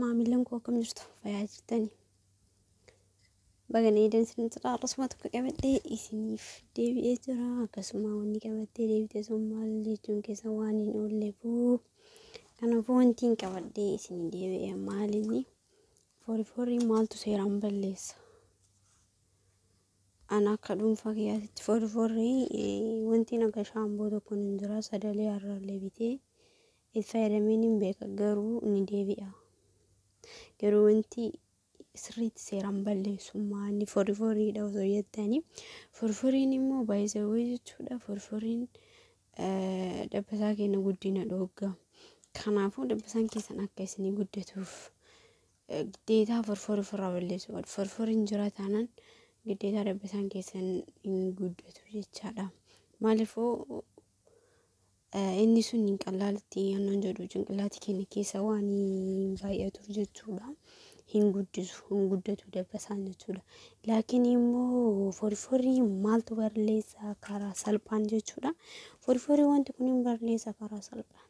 maamillan koo akkam jirtu fayaa jirtanii baganee dansin jira akkasuma tokko qabadhee isiniif deebi'ee jira akkasuma wanni qabattee deebitee sun maal jechuun keessa waan hin oolleefuu kanaafuu wanti hin qabadhee isinii deebi'ee maalinni foori foori maaltu seeraan balleessa ana akka dhuunfaa kiyyaatitti foori foori wanti naga shaamboo tokko hin jira sadalee har'aallee bitee Itti fayyadamee nin beeka garuu ni deebi'a. Garuu wanti sirriitti seeraan balleessummaa inni foriforiidha osoo jettanii foriforiin immoo baay'isawwee jechuudha foriforiin dabbasaa keenya guddina dhoogga. Kanaafuu dabbasaan keessan akka isinii guddatuuf giddeetaa forforii ofirraa balleessuu qabdu. Forforiin jira taanaan giddeetaa dabbasaan keessan hin guddatu jechaadha. Maaliifuu Inni sun hin qallaalitti aannan jedhu cinqillaati keenya keessa waan baay'atu jechuudha. Hin guddisu, hin guddatu dabbasaan jechuudha. Laakiin immoo forforii maaltu barleessa karaa salphaan jechuudha. Forforii wanti kun hin barleessa karaa salphaan.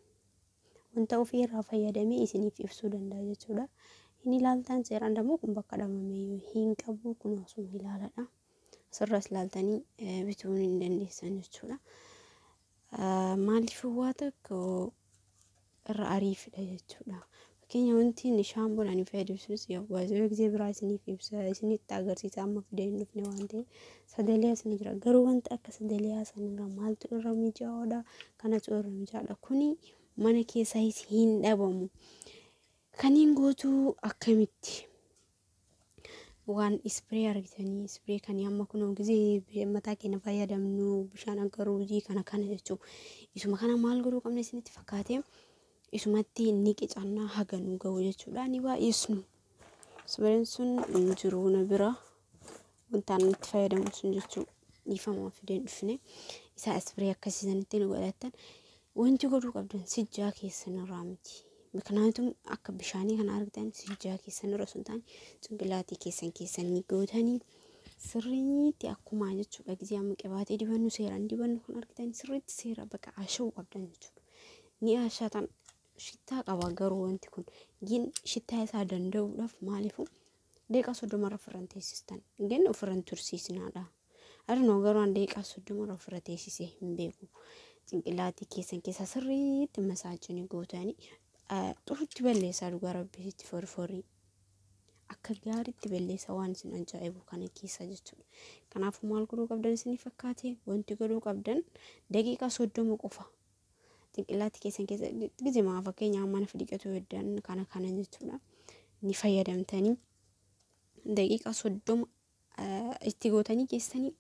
Wanta ofii irraa fayyadamee isiniif ibsuu danda'a jechuudha. Hin ilaaltaan seeraan dammoo kun bakka dhamamee hin qabu kun osoo ilaaladha. asirraas ilaaltanii eh, bituu hin dandeessan jechuudha. Ah, Maaliif waa tokko irra ariifidha jechuudha. Fakkeenya wanti inni shaampoon ani fayyadamu sunis yeroo gisee biraa isiniif ibsa isinitti agarsiisa amma fidee hin dhufne waan ta'eef sadaliyaa isin jira garuu wanti akka sadaliyaa sanirra maaltu irra mijaa'oodha kanatu irra mijaa'oodha kuni mana keessaa hin dhabamu. Kaniin guutuu akkamitti? waan ispiree argitanii ispiree kan amma kun gisee mataa keenya fayyadamnu bishaan akka ruuzii kana kana jechuu isuma kana maal godhuu qabna isinitti fakkaatee isumatti ni qicannaa haga nu ga'u jechuudha ni baay'isnu ispireen sun hin jiru na bira wanta ani itti fayyadamu sun jechuu dhiifama waan fideen dhufne isaa ispirii akkasii sanitti nu godhattan wanti godhuu qabdan sijjaa keessan irraa miti. Miknaatum akka bishaanii kana argitan sijjaa keessan irra sun taane cinqilaatii keessan keessan ni gootanii sirriitti akkuma jechuudha gisee amma qibaatee dibannu seeraan dibannu kan argitan sirriitti seera bakka ashawuu qabdan jechuudha. Ni ashatan shittaa qaba garuu wanti kun gin shittaa isaa danda'uudhaaf maaliifuu Deeqaa soddomarra ofirran teessistan. Gin ofirran tursiisnaadha. Arnoo garuu an deeqaa soddomarra ofirra teessisee hin beeku. Cinqilaatii keessan keessaa sirriitti masaajini gootanii xurutti balleessaa dhugaa rabbii itti forforii. Akka gaariitti balleessaa waan isin ajaa'ibu kana keessaa jechuudha. Kanaafuu maal godhuu qabdan isinii fakkaate wanti godhuu qabdan daqiiqaa soddoma qofa Xinqillaatti keessan keessa gizimaa fakkeenyaaf mana fidhiqatuu heddan kana kana jechuudha. Ni fayyadamtanii daqiiqaa soddoma itti gootanii keessanii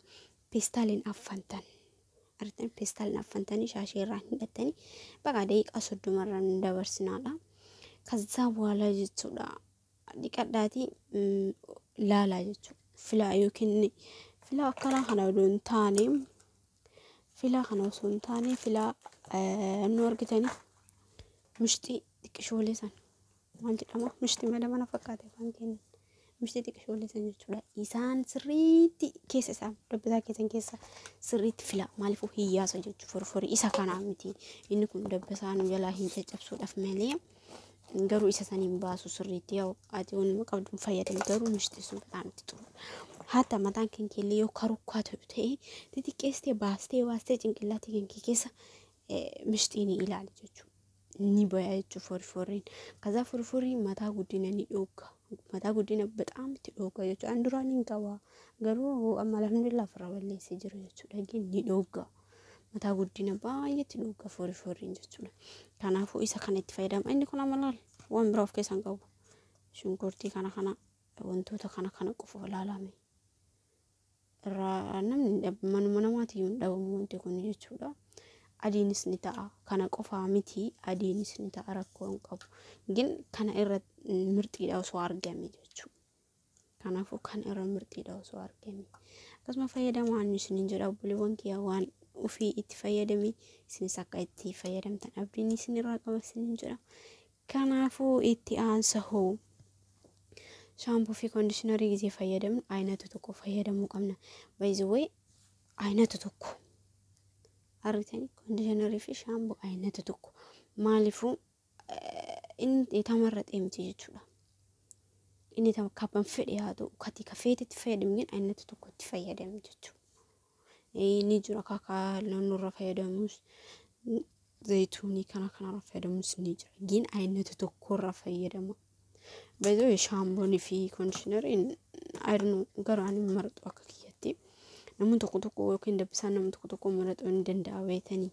peestaaliin affantan. Argitan peestaaliin affantanii shaashee irraa hidhattanii baqa daqiiqaa soddoma irra nu dabarsinaadha. Kazzaa bu'aala jechuudha. Dhiqadhaatii laalaa jechuudha. Filaa yookiin filaa akkanaa kana odoo hin taane Filaa kana osoo hin taane filaa nu argitanii mishxii xiqqishoolee san maal jedhama mishxii mala mana fakkaate afaan keenya mishxii xiqqishoolee san jechuudha isaan sirriitti keessa isaan dabbasaa keessan keessa sirriitti filaa maaliifuu hiyyaasa jechuudha forforii isa kanaa miti inni kun dabbasaa nu jalaa hin caccabsuudhaaf malee. garuu isa san hin baasu sirriitti yaa'u ati wanuma qabduun fayyadami garuu mishti sun bataam itti xuru haata mataan kan keellee yoo karukkaa ta'u ta'e xixiqqeessitee baastee baastee cinqillaatii kan kee keessa mishtii ni ilaali jechuudha. Ni baya jechuudha foriforiin. Kazaa foriforiin mataa guddina ni dhooga. Mataa guddina bataam itti dhooga jechuudha. An duraan hin qaba garuu amma alhamdulillah ofirraa balleessee jira jechuudha. Ni dhooga. mataa guddina baay'eetti dhuga foori fooriin jechuudha. Kanaafuu isa kana itti fayyadama. Inni kun amma laal waan biraa of keessaa hin qabu. Shunkurtii kana kana wantoota kana kana qofa ilaalame. Irraa namni hin dhabu manuma namaati yoo hin dhabamu wanti kun jechuudha. Adiinis ni ta'a kana qofaa miti adiinis ni ta'a rakkoo hin qabu. Gin kana irra mirxiidha osoo argame jechuudha. Kanaafuu kan irra mirxiidha osoo argame. Akkasuma fayyadamaa inni isiniin jedha obboleewwan kiyya waan ofii itti fayyadame isinis akka itti fayyadamtan abdiin isin irraa qaba isiniin jedha. Kanaafuu itti aansa hoo shaampuu fi koondishinarii gisee fayyadamnu ayinata tokko fayyadamuu qabna. Baay'ee ayinata tokko argitanii koondishinarii fi shaampuu ayinata tokko maaliifuu inni dheetama irra xeemti jechuudha. Inni tam kabban fedhe haa ta'u kati ka feetetti fayyadamne ayinatti tokkotti fayyadame jechuudha. Ni jira kakaa naannoo irra fayyadamus zayituunii kana kanarra fayyadamus ni jira. Gin ayinatti tokko irra fayyadama. Baay'ee shaamboon fi kondiishinariin ayirnu garuu ani marxu akka kiyyatti. Namni tokko tokko yookiin dabbisaan namni tokko tokko marxuu ni danda'a beetanii.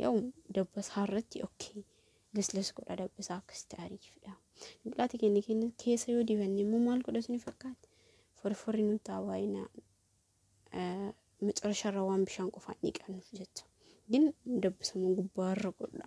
Yoo dabbasaa irratti okkee lesles godha dabbasaa akkasitti ariifidha. Biqilaatii keenya keenya keessa yoo dibanne immoo maal godha isin fakkaata? Forforri nu ta'a baay'ina macarasharra waan bishaan qofaan dhiqannuuf jecha. Gin dabbasama gubbaarra godha.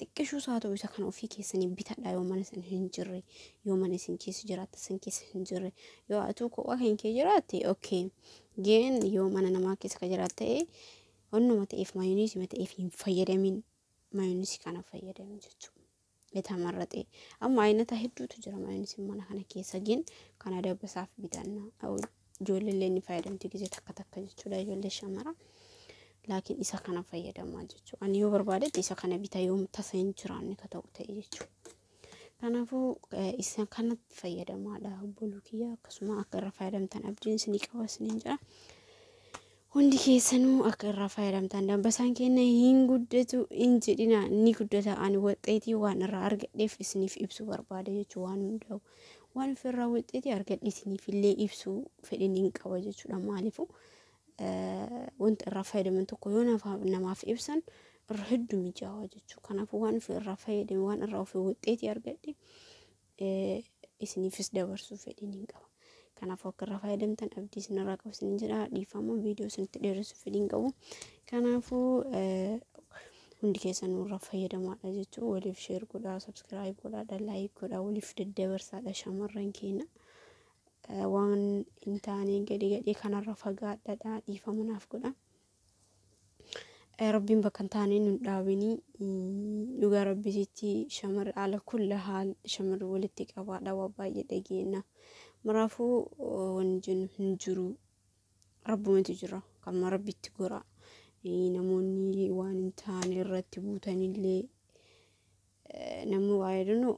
Xiqqishuus haa ta'u isa kana ofii keessanii bitadhaa yoo mana sana hin jirre yoo mana isin keessa jiraatta san keessa hin jirre yoo atuu kophaa kan kee jiraatte okay geen yoo mana namaa keessa ka jiraat ta'e onnuma ta'eef maayoniisii ma ta'eef hin fayyadamin maayoniisii kana fayyadami jechuudha. Bitaa marraxee amma ayinataa hedduutu jira maayoniisiin mana kana keessa geen kana dabbasaaf bitanna. Ijoolleellee ni fayyadamti gizee takka takka jechuudha ijoollee shamara. Laakiin isa kana fayyadamaa jechuudha. Ani yoo barbaadetti isa kana bita yoom tasa hin jiraanne ka ta'u ta'e jechuudha. Kanaafuu eh, isa kanatti fayyadamaadha obboluu kiyya akkasuma akka irra fayyadamtan abdiin isinii qaba isiniin jira. Hundi keessanuu akka irraa fayyadamtaan dabbasaan keenna hin guddatu hin jedhina ni guddata ani waxxeetii waan irraa argadheef isiniif ibsuu barbaada jechuu waan hundaa'u waan ofirraa waxxeetii argadhe isiniif illee ibsuu fedhin hin qaba jechuudha maalifu wanta irraa fayyadaman tokko yoo namaaf ibsan irra hedduu mijaawaa jechuu kanaafuu waan ofirraa fayyadame waan irraa ofii waxxeetii argadhe isiniifis dabarsuuf fedhiin hin qabu. Kanaafuu akka irraa fayyadamtan abdii isinirraa qabu isinin jedha. Dhiifama viidiyoo isinitti dheeressuuf fedhiin hin qabu. Kanaafuu hundi keessan irraa fayyadamaadha jechuun waliif sheer godhaa, sabskiraayib godhaadha, laayik godhaa, waliif daddabarsaadha shamarran keenya. Waan hin taane gadi gadhee kanarra fagaadhaadha dhiifama naaf godhaa. Rabbiin bakka hin taane nun dhaabinii dhugaa rabbisitti shamarri ala kulla haal shamarri walitti qabaadha waa baay'ee dhageenya. Maraafuu wanni jennu hin jiru. Rabbumatu jira kan rabbitti gora. Namoonni waan hin taane irratti buutanillee namni waa yaadanu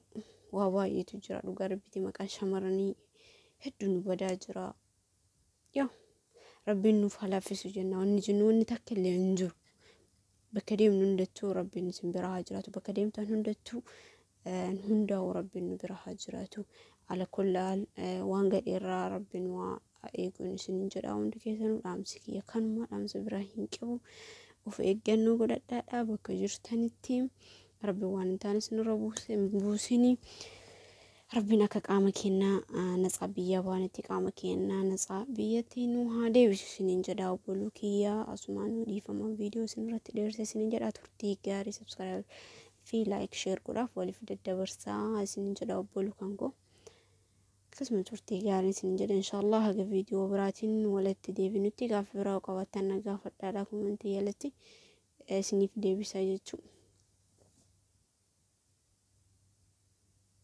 waa baay'eetu jira dhugaa rabbitti maqaan shamarranii hedduu nu badaa jira. Yoo rabbiin nuuf haa laaffisu jenna wanni jennu wanni takka illee hin jiru. Bakka deemnu hundattuu rabbiin isin bira haa jiraatu bakka deemtan hundattuu hundaa'u rabbiin nu bira haa jiraatu. Ala kullaal waan gadheerraa rabbiin waa eeguun isin hin jedha hundi keessanuu dhaamsi kiyya kanuma dhaamsa biraa hin qabu. Of eeggannoo godhadhaadhaa bakka jirtanitti rabbi waan hin taane isinirra buusini. Rabbiin akka qaama keenna natsaa biyyaa baanetti qaama keenna natsaa biyyatti nu haa deebisu isiniin jedha obboluu kiyya asumaan nu dhiifama viidiyoo isin irratti dheerse isiniin jedha turtii gaarii subscribe fi like share godhaaf waliif daddabarsaa isiniin jedha obboluu kan koo akkasuma turtii gaarii isiniin jedha inshaallah haga viidiyoo biraatiin walitti deebinutti gaafa biraa qabattan na gaafadhaadha kumantii jalatti isiniif deebisa jechuudha.